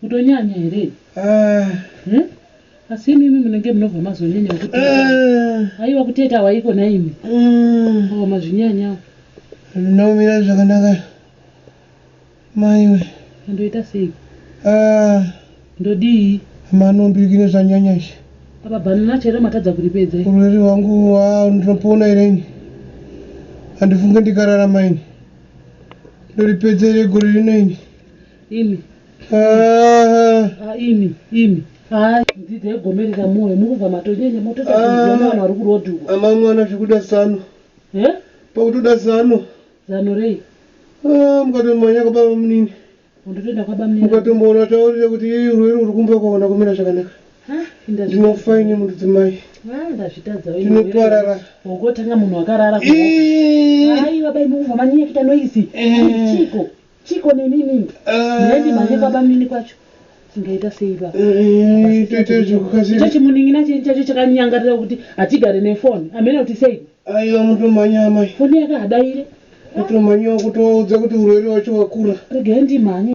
kutonyanya here ah. hmm? asi imimi munenge munobva mazonyanya kuti ah. aiwa kuteta waiko naimi hmm. awa mazvinyanya zvinomira zvakanaka Maiwe. Ndoita sei? Ah. Ndodii? Mano ndikine zvanyanya izvi. Apa banana chero matadza kuripedza. Urwere hwangu wow ndinopona here ini? Handifunge ndikararama ini. Ndoripedza here gore rino ini? Imi. Ah. Ah, imi, imi. Ah, ndzidza yegomerera moyo mukubva matonyenya mototsa ah. vanhu vari kurodhukwa. Amamwana zvekuda zano. Eh? Pakutoda zano. Zano rei? Ah, mukatomanya kwababa munini. Undotoenda kwababa munini. Mukatomboona taurire kuti ii rwere uri kumba kwaona kumira zvakanaka. Ah, Ndinofa ini mundu dzimai. Ah, ndazvitadza wewe. Ndinoparara. Ungotanga munhu akarara. Ii. Ai baba imi ungomanyekita noise. Chiko. Chiko nini nini. Ndendi eh. manje baba mini kwacho. Tingaita sei baba? Eh, toita zvekukasira. Chachi muningina chacho chakanyangarira kuti hatigare nefoni. Amene kuti sei? Aiwa mutomhanya amai. Foni yake hadaire. Mutomhanya wakutovaudza kuti urwere wacho wakura. Regai ndimhanye.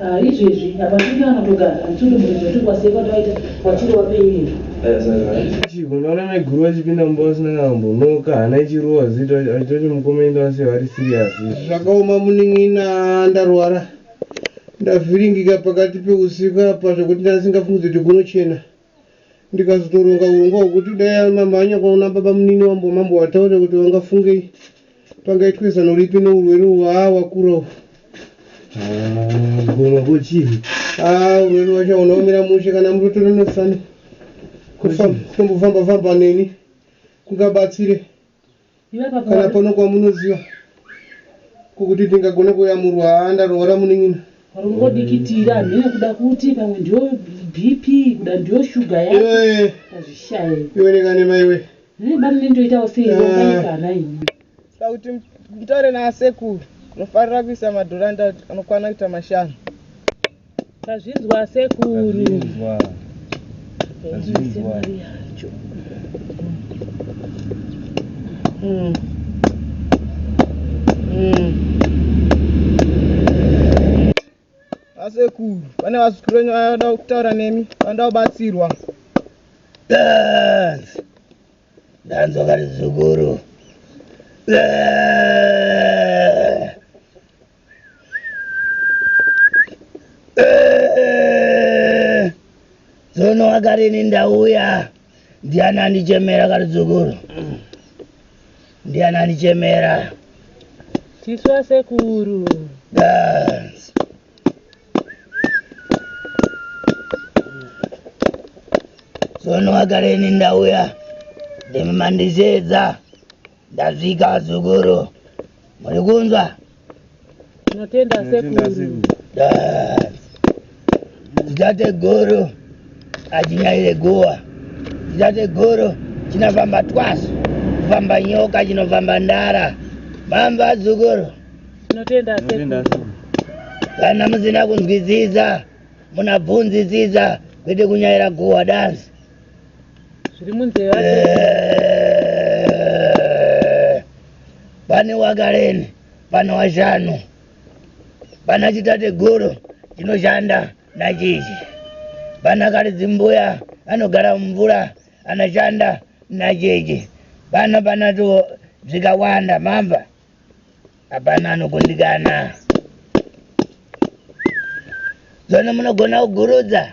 Ah, izvezvi apa tiri anotogara hatiri muridzo tiri kwasekwa taita watiri wapeirezvo chiko unoona maiguru vachipinda mumba vasina kana kumbonoka hana ichirowa zita achitoti mukoma enda vasiya vari serious izvi zvakaoma munin'ina ndarwara ndavhiringika pakati peusiku apa zvekuti ndasingafungidze kuti kunochena ndikazotoronga hurongwa hwekuti dai amamhanya kwaona babamunini wambo mambo wataure kuti vangafungei pangaitwe zano ripi neurwere uhu haa wakura uhu goma kochii haa urwere wachaona umira mushe kana murotore nosani kutombofamba famba neni kungabatsire kana pano kwamunoziva kokuti ndingagona kuyamurwa haa ndaroora munin'ina rungodikitira hamhene kuda kuti pamwe ndiyo bp kuda ndiyo shuga yaazvishaye iwe nekanema iwe ne bani nendoitawo seiokana ini da kuti mutaure naasekuru unofanira kuisa madhora nda anokwana kuita mashanu Tazvinzwa sekuru. Tazvinzwa. Tazvinzwa. Mm. Mm. Asekuru, pane vazukuru venyu vanoda kutaura nemi, vanoda kubatsirwa. Dance. Dance wakati zukuru. Dance. Tsono wakarini ndauya ndiani andichemera karidzukuru ndiani andichemera tisu vasekuru tsono wakarini ndauya ndimi mandisheedza Ndasvika azukuru. Muri kunzwa? Tinotenda sekuru. Ndidate guru achinyaire guwa. Ndidate guru chinofamba twasu. Kufamba nyoka chinofamba ndara. Mambo azukuru. Tinotenda sekuru. Kana musina kunzwisisa munabvunzisisa kwete kunyaira guwa dance. zviri munzeve pane wakareni pana washanu pana chitateguru chinoshanda nachichi pana karidzi mbuya anogara mumvura anoshanda nachichi pano pana tuwo zvikawanda mamba hapana anokundikana zvono munogona kugurudza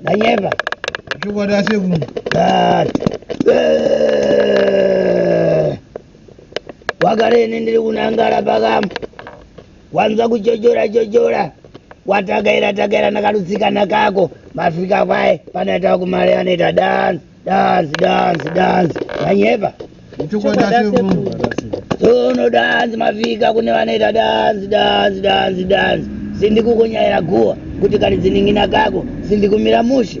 ndanyeba chokwadi asekuru wagara ini ndiri kunangara pakamba wanzwa kuchochora chochora watakaira takaira nakarusikana kako mafika kwaye panoita kumari anoita danzi Dance, dance, dance. Vanyeba. Chokwada sekuru. Tono dance mavika kune vanoita dance, dance, dance, dance. Sindi kukunyaira guwa kuti kari dziningina kako sindi kumira mushe.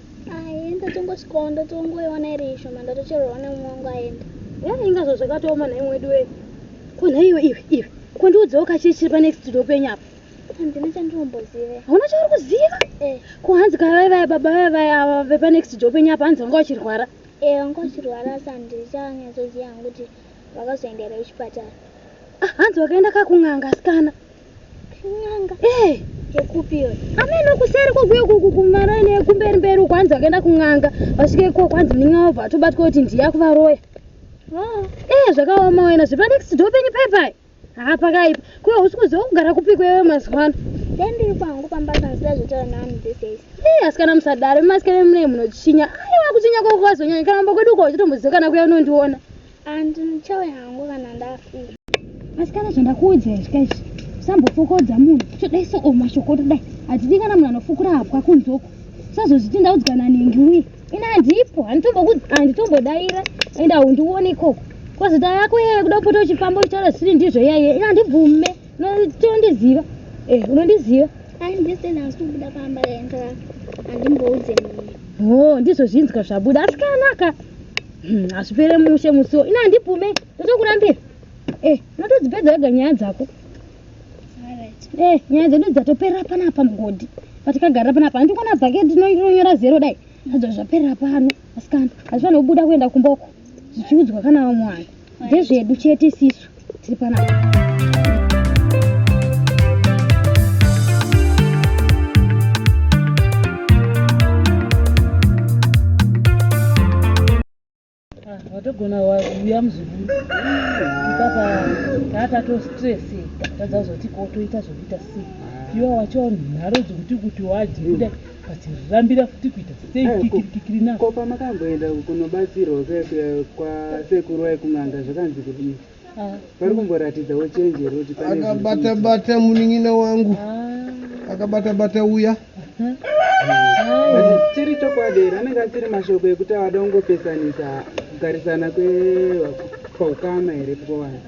Aye ndatongosvikawo ndatongoiona iri ishoma ndatocherwawo nemumwe wangu aenda. Yari inga zvo zvakatooma nhai mwedu wee. Ko nhai iwe iwe iwe ko ndiudzewo kachii chiri panext door penyu apa. Handina chandinombozive. Hauna chauri kuziva? Eh. Ko hanzi kavai vaya baba vaya vaya ava vepanext door penyu apa hanzi vanga vachirwara. Eh vanga vachirwara asi handichanyatsoziva hangu kuti vakazoenderei kuchipatara. Ah hanzi vakaenda kakun'anga asikana. N'anga. Eh. Yekupi iyo? Ameno kuseri kokuyo kuku kumara ine kumberi mberi kwanzi akaenda kun'anga. Vasvika iko kwanzi muninga obva atobatwa kuti ndiye akuvaroya. Oh. Eh zvakaoma wena zvepa next door penyu pai pai. Haa pakaipa. Kuyo usiku zve kugara kupi kwewe mazuva ano. Then ndiri kwangu pamba panzira zvotaura nani these days. Eh asikana musadaro masikana mune munochinya. Aiwa kuchinya kwako kwazonyanya kana mba kwedu uko uchitomboziwa kana kuya unondiona. And ndichauya hangu kana ndafika. Asikana zvandakuudza izvi kaizvi. Usambofokodza munhu. Todai so o mashoko todai. Hatidi kana munhu anofukura hapwa kunze uko. Usazozviti ndaudzwa naningi uye. Ini handipo, handitombodaira and haundione ikoko. Kozi daa yako yeye kuda kupota uchifamba uchitaura zvisiri ndizvo iyaiye. Ini handibvume. Unondiziva. Eh, unondiziva. Handisina asi kubuda pamba yanga handimboudze munhu. Oh, ndizvo zvinzwa zvabuda. Asikana ka. Hmm, hazvipere mushe musiwo ina handibvume ndotokurambira e eh, unotodzipedza wega nyaya dzako e eh, nyaya dzedu dzatoperera panapa mugodhi patikagarira panapa handikona bhake tinonyora zero dai adzo zvaperera pano asikana hazvifanira kubuda kuenda kumboko zvichiudzwa kana vamwe vanhu Ndezvedu chete sisu tiri panapa. watogona uya muzukuru ipapa taatato stress tadza kuzoti ko toita zvokuita sei iwe wacho nharo dzokuti kuti wadye kuda Vachirambira futi kuita sei eh, kikirikikiri na. Ko pamakamboenda kunobatsirwa kuya kuya kwasekuru vaikun'anga zvakanzi kudii? Ah. Vari kumboratidzawo chenji here kuti pane akabata bata munin'ina wangu ah. akabata bata uya ah. chiri chokwadi here anenge asiri mashoko ekuti awada kungopesanisa kugarisana kweukama here pkovanhu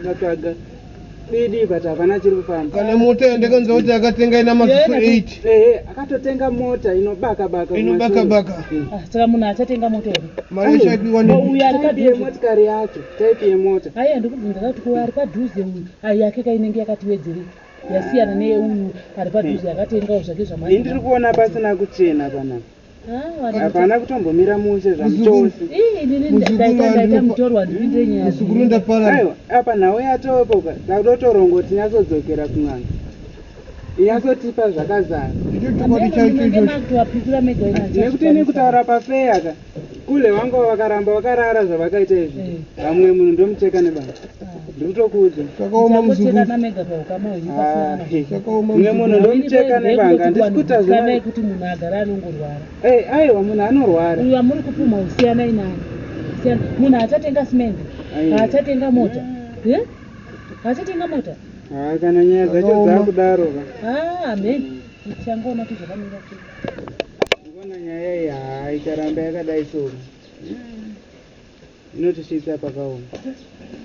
Ndatsvaga bidi but havana chiri kufamba. Kana mota yandakanzwa kuti akatenga ina maziso 8. Ehe, akatotenga mota inobaka baka. Inobaka baka. Hmm. Ah, saka munhu achatenga mota here? Mari ishaipiwa ne. Uyu ari padhuze yemotikari yacho, type yemota. Haya ndikubvunza kuti ko ari padhuze uyu, ayi yake kainenge yakati wedzerei? yasiyana neye uyu ari padhuze akatengawo zvake zvamai. Ndiri kuona pasina kuchena panapa. hapana kutombomira mushe zvamuchose apa nhau yatopoka tadotorongo tinyatsodzokera kun'anga inyatsotipa zvakazara nekuti nekutaura pafeyaka kule vangu vakaramba vakarara zvavakaita izvi vamwe munhu ndomucheka nebasa Ndikutokuudza. Zvakaoma muzukuru. Muchekana mega pahukama hwenyu pasina Ah, mwana. eh. Zvakaoma Mune muzukuru. munhu ndomucheka nebanga ndisikuta Kana zvina. yekuti munhu agara anongorwara Eh, aiwa munhu anorwara. uyu amuri kupumha usiyanai naye Siyana- munhu haachatenga simende Aiwa. haachatenga mota Eh? haachatenga mota Ah, kana nyaya dzacho Zvakaoma. dzakudaro ka. Ah, amen tichangoona kuti zvakamira sei. Ngona nyaya iyi haa ikaramba yakadai so. Zvinotisvitsa pakaoma.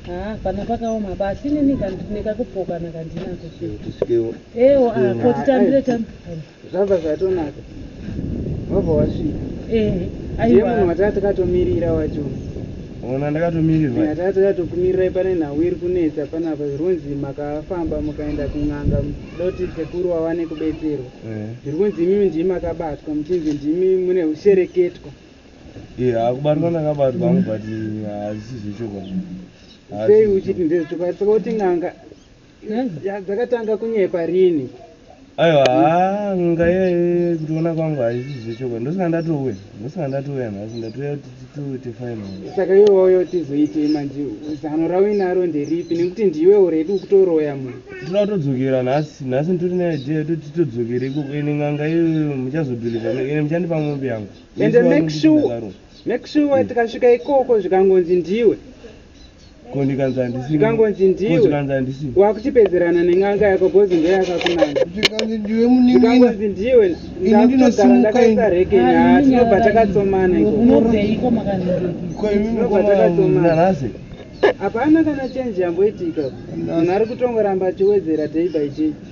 Haa pana pakaoma apa asi neni nekakupokana kandinako tisvikewo ewo ah, ko titambire tambire zvabva zvatonaka wabva wasvika ehe aiwa munhu wataa takatomirira wacho ona ndakatomirirwa yataa takatokumirirai pane nhau iri kunetsa panapa zviri kunzi makafamba mukaenda kun'anga doti sekuru wawane kubetserwa zviri kunzi imimi ndimi makabatwa muchinzi ndimi mune ushereketwa kubatwa ndakabatwa hangu but hazvisi zvechokwadi sei uchiti ndezvechokwadi saka kuti n'anga dzakatanga kunyepa rini aiwa haa n'anga iyaye kutiona kwangu hazvisi zvechokwadi ndosaka ndatouya ndosaka ndatouya nhasi ndatouya titoite final saka iwe wauya utizoitei manje zano rauinaro nderipi nekuti ndiwe uredi ukutoroya munhu tinoda kutodzokera nhasi nhasi nditori neidea yekuti titodzokere ikoko ine n'anga iyoyo muchazobhilivha ine muchandipa mombe yangu ende make sure make sure mm. tikasvika ikoko zvikangonzi ndiwe kondikanzi handisi zvikangonzi ndiwe zvikanzi handisi wakutipedzerana nen'anga yako bhozi ndiyo yakakunanga zvikanzi ndiwe muningi zvikangonzi ndiwe ndakutogara ndakaisa reke nyaa tinobva takatsomana iko unobeiko makazviko imi tinobva takatsomana hapana kana chenji yamboitika munhu ari kutongoramba achiwedzera day by day